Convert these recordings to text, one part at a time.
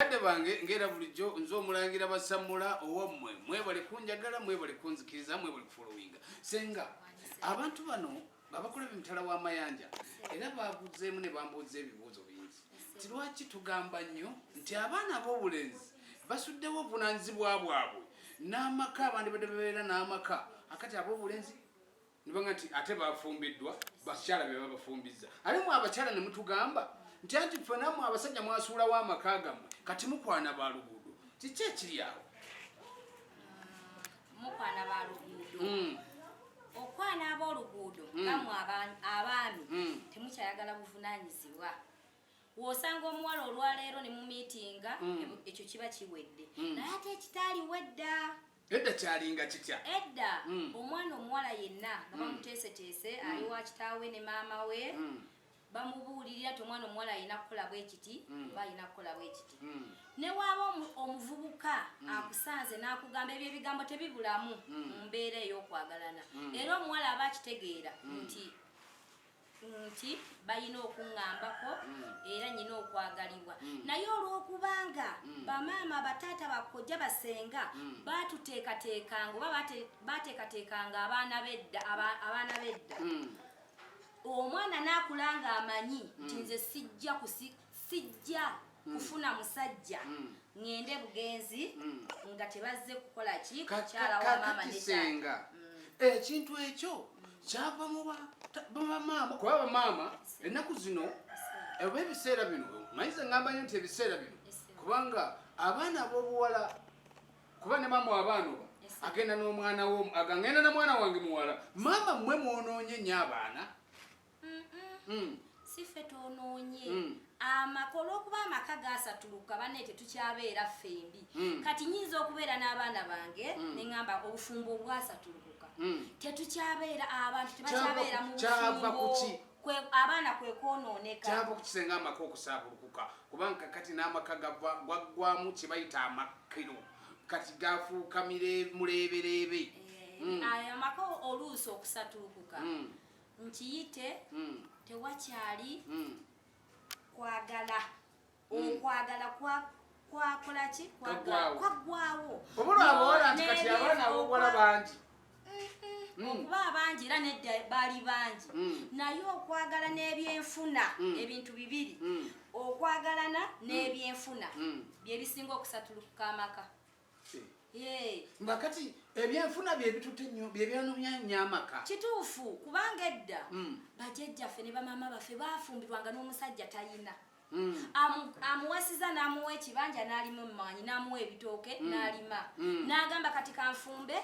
Bakadde bange ng'era bulijjo nze omulangira basammula owammwe mwebale kunjagala mwebale kunzikiriza mwebale kufolowinga senga abantu bano babakola bemutala w'amayanja era baguzeemu ne bambuuza ebibuuzo bingi nti lwaki tugamba nnyo nti abaana ab'obulenzi basuddewo obuvunanyizibwa bwabwe n'amaka abandi badde babeera n'amaka akati ab'obulenzi nibanga nti ate bafumbiddwa bakyala be babafumbizza ate mwe abakyala ne mutugamba nti anti ffe namwe abasajja mwasuulawo amaka gammwe kati mukwana ba luguudo kiki ekiri awo mukwana ba luguudo hmm. okwana ab'oluguudo hmm. namwe abaami hmm. temukyayagala buvunanyizibwa wosanga omuwala olwaleero ne mumiitinga ekyo kiba kiwedde naye ate ekitaaliwedda edda kyalinga kitya edda mm. omwana omuwala yenna nga mm. bamuteeseteese mm. ali wa kitaawe ne maama we mm. bamubuulirira ti omwana omuwala alina kukola bwe kiti mm. oba alina kukola bwe kiti mm. ne waaba omuvubuka mm. akusanze n'akugamba ebyo ebigambo tebibulamu mm. mu mbeera ey'okwagalana mm. era omuwala aba akitegeera mm. nti nti balina okuŋŋambako mm. era nyina okwagalibwa mm. naye olw'okubanga mm. bamaama bataata bakojja basenga batuteekateekanga oba bateekateekanga abaana bedda abaana bedda omwana naakula nga amanyi nti nze sijja sijja hmm. kufuna musajja hmm. ngende bugenzi hmm. nga tebazze kukola ki kukyala wa mama ne senga ekintu ekyo kyava mu ba mama kuba ba mama ennaku zino oba ebiseera bino mayize ngamba nyo nti ebiseera bino kubanga abaana abobuwala kuba ne mama abaana oba agenda n'omwana wo agangenda na mwana wange muwala mama mwe mwonoonye nyo abaana Mm. si ffe twonoonye mm. amaka olw'okuba amaka gaasatuluka banne tetukyabeera ffembi mm. kati nyinza okubeera n'abaana bange ne ŋamba obufumbo obwasatulukuka tetukyabeera abantu tebakyabeera mu bufumbo kwe abaana kwe kwonooneka kyava kukisenga amaka okusaabulukuka kubanga kati n'amaka gwaggwamu kye bayita amakkiro kati gafuuka muleebereebe eh, hmm. ayo amaka oluusi okusatulukuka hmm. nkiyite hmm. tewakyali hmm. kwagala okwagala hmm. kwa kwakola ki kwaggwawo obulwabowola nti kati abaana abobuwala bangi Mm. okuba abangi era nedda baali bangi mm. naye okwagala n'ebyenfuna mm. ebintu bibiri okwagalana n'ebyenfuna byebisinga okusatulukuka amaka nga kati ebyenfuna byebitutte nyo byebyanumyanya amaka kituufu kubanga edda hmm. bajajjaffe ne bamaama baffe bafumbirwanga n'omusajja tayina hmm. amuwasiza n'amuwa ekibanja n'alima emmanyi n'amuwa ebitooke hmm. n'alima n'agamba kati kanfumbe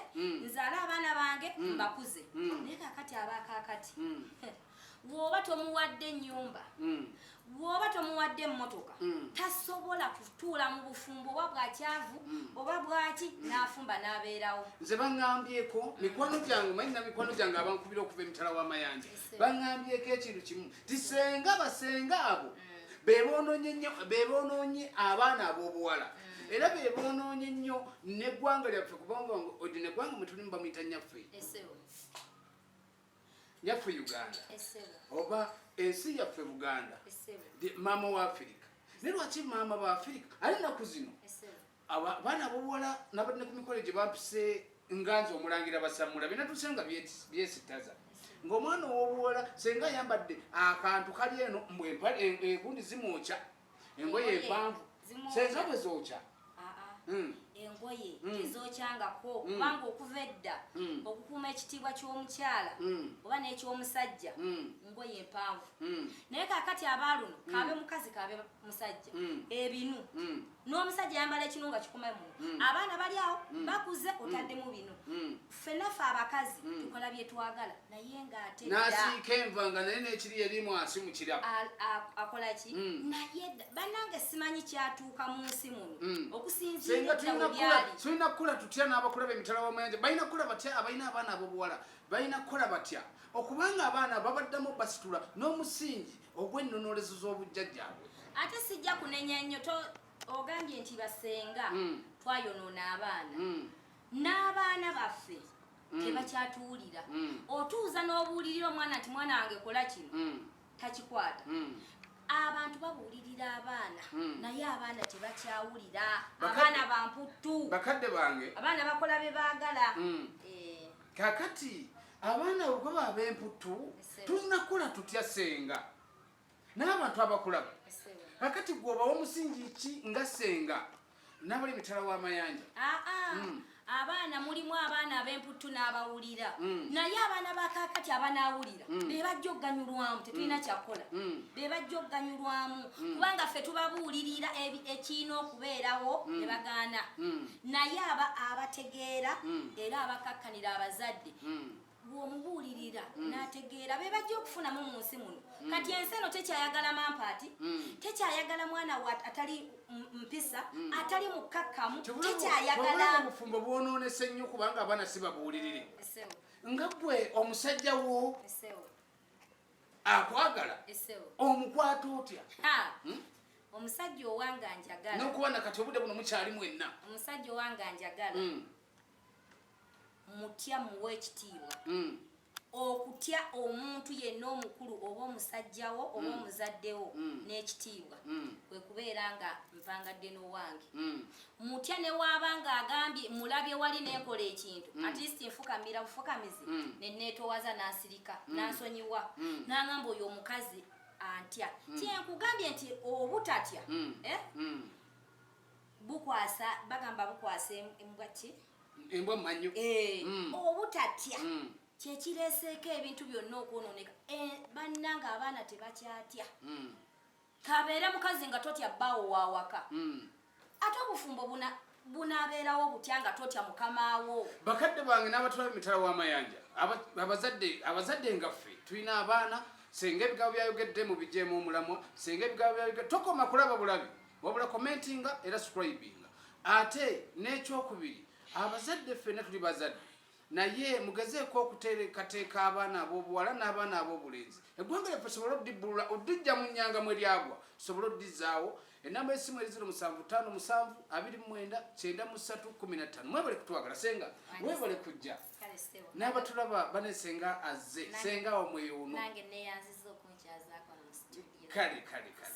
nzaale abaana bange mbakuze naye kakati abaakaakati bw'oba tomuwadde nnyumba mm. bw'oba tomuwadde emmotoka mm. tasobola kutuula mu bufumbo oba bwakyavu mm. oba bwaki n'afumba n'abeerawo nze baŋŋambyeko mikwano gyange manyi na mikwano gyange abankubira okuva emitala w'amayanja baŋŋambyeko ekintu kimu tisenga basenga abo bebonoonye abaana ab'obuwala era bebonoonye nnyo neggwanga lyaffe kubanga odi neggwanga mwetulimu bamuyita nyaffe yaffe uganda oba ensi yaffe buganda maama wa afirika naye lwaki maama ba afirika ali naku zino abaana bobuwala nabadde ku mikole gye bapise nganzi omulangira basamula binatuse nga byesitaza ngaomwana owobuwala senga ayambadde akantu kali eno mbwempale enkundi zimwokya engoye empanvu senza bwe zookya hmm. engoye hmm. tezookyangako hmm. kubanga okuva edda okukuuma ekitiibwa ky'omukyala oba n'eky'omusajja ngoye empanvu naye kakati abaaluno kaabe mukazi kaabe musajja ebinu n'omusajja yambala ekinu nga kikuma muno abaana bali awo bakuze otaddemu bino ffena fe abakazi mm. tukola byetwagala naye ngaate nasiika enva nga naye nekiri erimu asi mukira akola ki mm. naye banange simanyi kyatuuka mu nsi muno mm. okusinziratulina kukola tutya n'abakula bemitala wamayanja balina kukola batya abalina abaana abobuwala balina kukola batya okubanga abaana babaddamu basitula n'omusingi ogw'ennonolezo z'obujjajjaabwe ate sijja kunenya nnyo ogambye nti basenga twayonoona abaana n'abaana baffe mm. tebakyatuwulira mm. otuuza n'obuulirira omwana nti mwana wange kola kino mm. takikwata abantu babuulirira abaana hmm. naye abaana tebakyawulira abaana bamputtu bakadde bange abaana bakola bye baagala hmm. eh. kakati abaana bwe baba bemputtu tulina kukola tutya senga n'abantu abakulaba kakati gwobawa omusingi ki nga senga nabali mitala w'amayanja ah, ah. hmm. abaana mulimu abaana ab'emputtu n'abawulira hmm. naye abaana bakakati abanaawulira hmm. be bajja okuganyulwamu tetulina kyakukola be bajja okuganyulwamu kubanga ffe tubabuulirira ekirina okubeerawo ne bagaana naye aba abategeera era abakakkanira abazadde bw'omubuulirira mm. n'ategeera be bajja okufunamu mu nsi muno mm. kati ensi eno tekyayagala mampaati mm. tekyayagala mwana wa atali mpisa atali mukkakkamu tekyayagala obufumbo bwonoonese nnyo kubanga abaana si babuulirire nga gwe omusajja wo akwagala omukwata otya hmm? omusajja owange anjagala nokuba nakati obude buno mukyali mwenna omusajja owange anjagala hmm. mutya muwa ekitiibwa mm. okutya omuntu yenna omukulu oba omusajjawo oba mm. omuzaddewo mm. n'ekitiibwa mm. kwe kubeera nga mpangadde n'owange mm. mutya ne waaba nga agambye mulabye wali nenkola ekintu mm. atist nfukamira bufukamizi mm. ne neetowaza n'asirika mm. n'asonyiwa mm. n'angamba oyo omukazi antya mm. kyenkugambye nti obutatya mm. eh? mm. bukwasa bagamba bukwasa embwa ki embwa manyo eh, mm. obutatya mm. kyekireeseeko ebintu byonna okwonooneka eh, bannanga abaana tebakyatya mm. kabeere mukazi nga totya bbaawo wawaka mm. ate obufumbo buna bunabeerawo butya nga totya mukamaawo bakadde bange n'abatwala emitala w'amayanja abazadde abazadde nga ffe tulina abaana senga ebigabo byayogedde mu bijeemu omulamwa senga ebigabo byayogedde tokoma kulaba bulabi wabula commentinga era scribinga ate n'ekyokubiri abazadde ffenna tuli bazadde naye mugezeeko okuteekateeka abaana ab'obuwala n'abaana ab'obulenzi eggwanga lyaffe sobole odibbulula odijja mu nyanga mwe lyagwa sobole odizaawo enamba esimu eri ziro musanvu ttaano musanvu abiri mwenda kyenda mu ssatu kumi na ttaano mwebale kutwagala senga webale kujja n'abatulaba bane senga azze senga wamweyo uno kale kale kale